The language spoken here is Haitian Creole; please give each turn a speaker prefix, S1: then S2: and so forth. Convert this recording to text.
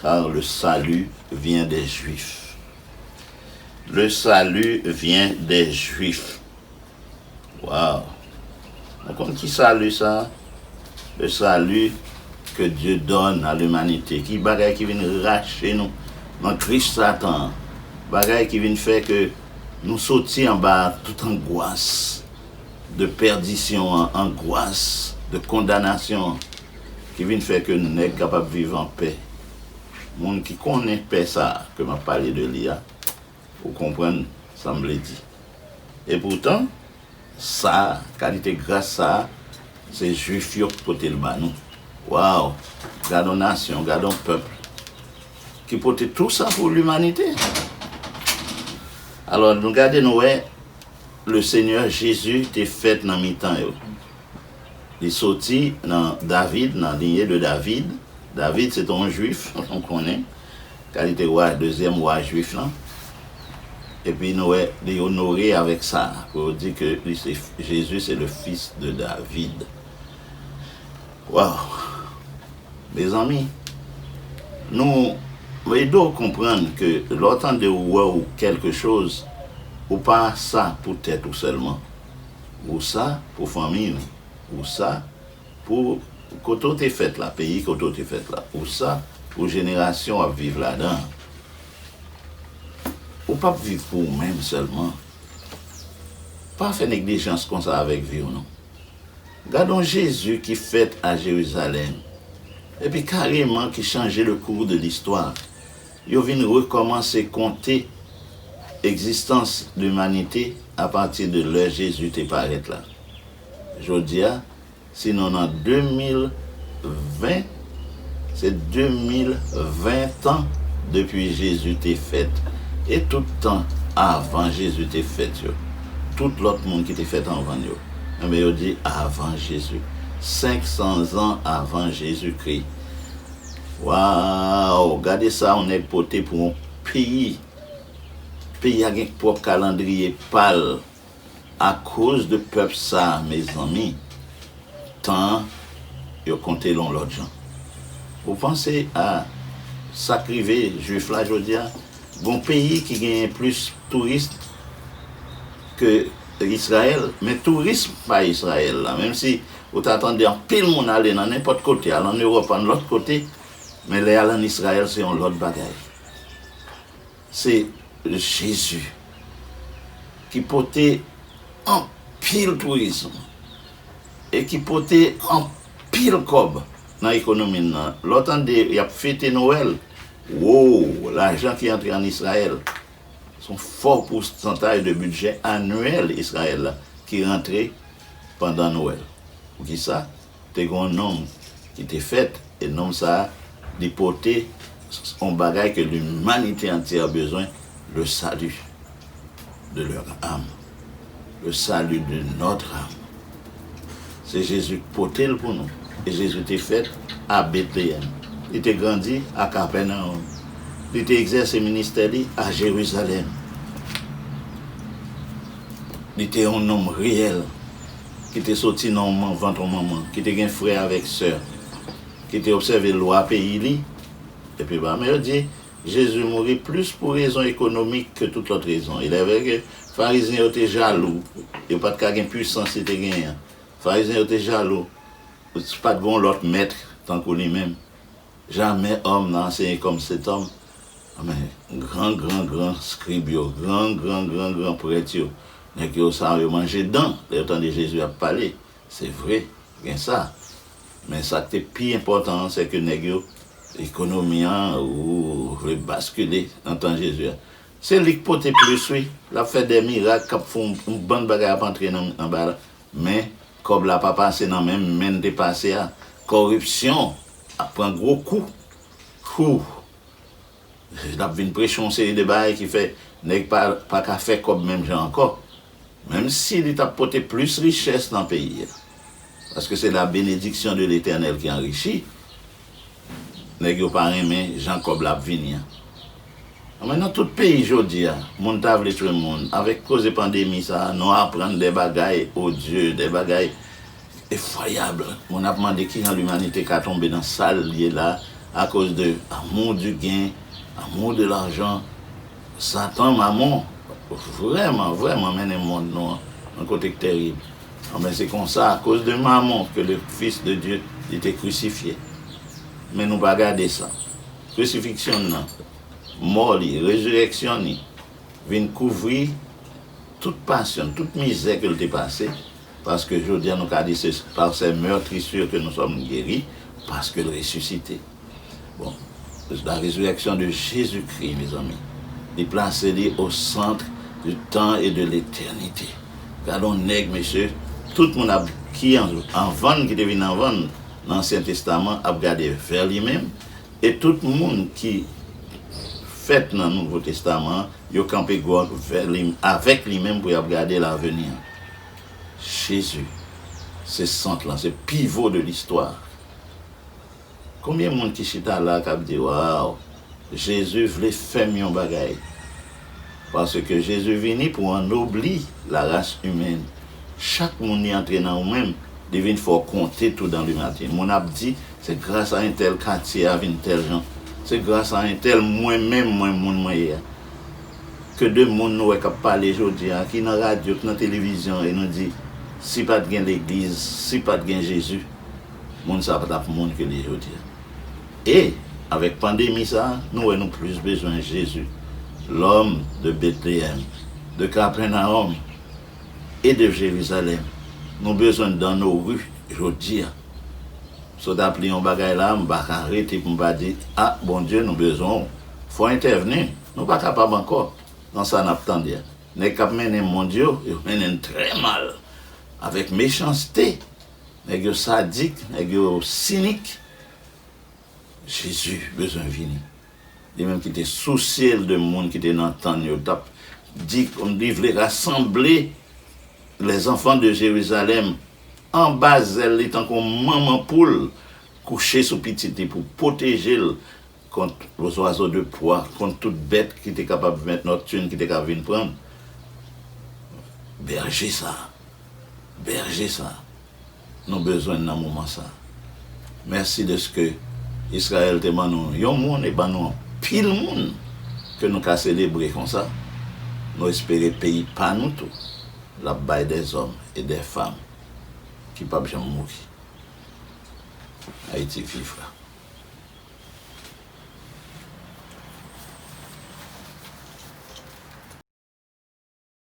S1: Car le salut vient des juifs Le salut vient des juifs Waw Nou konn ki salut sa Le salut que Dieu donne à l'humanité Ki bagay ki vin rache nou nan grif satan an Bagay ki vin fè ke nou soti anba tout angwas de pèdisyon an Angwas de kondanasyon an ki vin fè ke nèg kapab viv an pè. Moun ki konnen pè sa a ke m ap pale de li a, ou konprann sa m vle di. E poutan, sa a, kalite gras sa a, se Jwif yo ki pote l ba nou. Waw! Gad on nasyon, gad on pèp ki pote tou sa pou limanite! Alò, nou gade nou wè, Lesenyè Jezi te fèt nan mitan yo. Li soti nan David, nan lignée de David. David se te yon Jwif, nou konnen, ka li te wa, dezyèm wa Jwif lan. Epi nou wè li onore avèk sa, pou yo di ke li se, Jésus c'est le fils de David. Waw! Mezanmi, nou ede w konprann ke lè w tande ou wè ou kèlke choz, ou pa sa pou tèt ou sèlman. Usa pou fanmiy nou Usa pou kote w te fèt la peyi kote w te fèt la Usa pou jenerasyon w ap viv ladan an Ou pap viv pou ou menm sèlman Pa fè neglijans konsa avèk vi w non Gad on Jezi ki fèt a Jerizalèm epi kareman ki chanje le kou de listwa Yo vin rekòmanse konte egzistans limanite apati de lè Jezi te parèt la. Jodi a, sinon nan 2020, se 2020 tan depi Jezi te fèt e tout tan avan Jezi te fèt yo. Tout lòt moun ki te fèt anvan l yo, enben yo di avan Jezi, 500 zan avan Jezikri. Waww gade sa yon nèg pote pou yon peyi peyi a gen pròp kalandriye pal a koz de pèp sa mezanmi tan an yo kontel yon lòt jan ou panse a sak rive jwif la jodia gon peyi ki genyen plis touris ke Israel men tourism pa Israel la menm si Ou ta tande anpil moun ale nan nenpòt kote, al ann Ewòp, ann lòt kote, men lè y al ann Izrayèl se yon lòt bagay. Se Jezi ki pote anpil tourism e ki pote anpil kòb nan ekonomi n nan. Lè w tande y ap fete Nowèl, woo, lajan ki antre ann Izrayèl, se yon fò pousantay de bidjè anyèl Izrayèl la ki rantre. pandan Nwèl. Poukisa? Te gen yon nonm ki te fèt, e nonm sa a, li pote yon bagay ke limanite antyè a bezwen, le salut de leur âme, le salut de notre âme. Se Jezi ki pote l pou nou. E Jezi te fèt a Betleyèm. Li te grandi a Kapènaòm. Li te egzèse ministè li a Jerizalèm. Li te yon nonm reyèl, ki te soti nan yon vant yon manman, ki te gen frè avèk sè, ki te obsève lwa peyi li. Epi blan yo di, Jezi mouri plis pou rezon ekonomik ke tout lòt rezon. Ilèvre ke Farizyen yo te jalou, yo pa t ka gen pwisans li te genyen an. Farizyen yo te jalou, pa t gen yon lòt mèt tankou li menm. Jamè òm nan anseye kòm setòm, men gran gran gran skrib yo, gran gran gran gran prèt yo, nèg yo sa yo manje dan lè yo tande Jezi ap pale. Se vre, gen sa. Men sa k te pi enpòtan an, sèke nèg yo, ekonomi a, ou vle baskile nan tan Jezi a. Se li k pote plis wi, l ap fè de mirak k ap fè yon bann bagay ap antre nan anba la. Men, kòb la pa pase nan menm men l te pase a. Kòripsyon! Ap pran gwo kou hoo. Lap vin preche yon seri de bagay ki fè nèg pa ka fè kòb menm jan ankò. Menm si li tap pote plis richès nan peyi a. Paske se la benediksyon de letènèl ki anrichi. Nèg yo pa renmen jan kòb la ap vini an. Anmwey nan tout peyi jodia moun ta vle tchwe moun avek koze pandemi sa nou aprann de bagay odye de bagay efwayab moun ap mande kijan limanite ka tonbe nan sal ye la akoz de amour du gain amour de l'argent satan mamon vreman vreman mennen mond nou an yon kote k terib anmwey se konsa akoz de mamon ke le fils de Dieu li te crucifier men nou pa gade sa. Krisifiksyon nan, mò li, rezirèksyon ni, vin kouvri tout pasyon n, tout mizè ke l te pase, paske jodi a nou ka di se par ses meurtrissures que nous sommes gueris, paske l resisite. Bon, la résurrection de Jésus-Christ, mezanmi, li plase li au centre du temps et de l'éternité. Gad on nèg, mesye, tout moun ap, ki anvan n, ki te vin anvan n, nan Ansyen Testaman, ap gade vè li menm, E tout moun ki fèt nan Nouvo Testaman an, yo kanpe gòd vè li, avèk li menm pou y ap gade laveni an. Jezi se sant lan, se pivo de listwa a. Konbyen moun ki chita la a k ap di, Waw, Jezi vle fè m yon bagay? Paske Jezi vini pou anobli laras imen. Chak moun li antre nan ou menm, li vin fè w konte tou dan limati. Moun ap di, se gras a entèl katye a vin tèl jan. Se gras a entèl mwen menm mwen moun mwen ye a. Ke de moun nou wè k ap pale jodi a, ki nan radyo, ki nan televizyon e nou di, si pa t gen legliz, si pa t gen Jezi, moun sa a pa t ap moun ke l ye jodi a. E, avèk pandemi sa, nou wè nou plis bezwen Jezi, L'homme de Bethléem, de Capernaum et de Jérusalem. Nou bezwen l dans nos rues jodi a. Sot ap li yon bagay la a, m pa ka rete pou m pa di, A Bondye, nou bezwen w. Fò w entèvni. Nou pa kapab ankò nan sa n ap tande a. Nèg k ap mennen mond yo, yo mennen l trè mal, avèk mechanste. Nèg yo sadik, nèg yo sinik. Jezi bezwen vini. Li menm ki te sousye l de moun ki te nan tan l yo t ap di kòm li vle rasanble lèzanfan de Jerizalèm anba zèl li tankou yon manman poul kouche sou pitit li pou pwoteje l kont lzwazo de pwa, kont tout bèt ki te kapab vèt nòktin ki te ka vin pran l. Bèje sa a! Bèje sa a! nou bezwen nan moman sa. Mèsi dèske Izrayèl te ban nou yon moun e ban nou anpil moun ke nou ka selebre konsa. Nou espere peyi pa nou tou l ap bay dè zòm e dè fam ki p ap janm mouri. Ayiti viv la.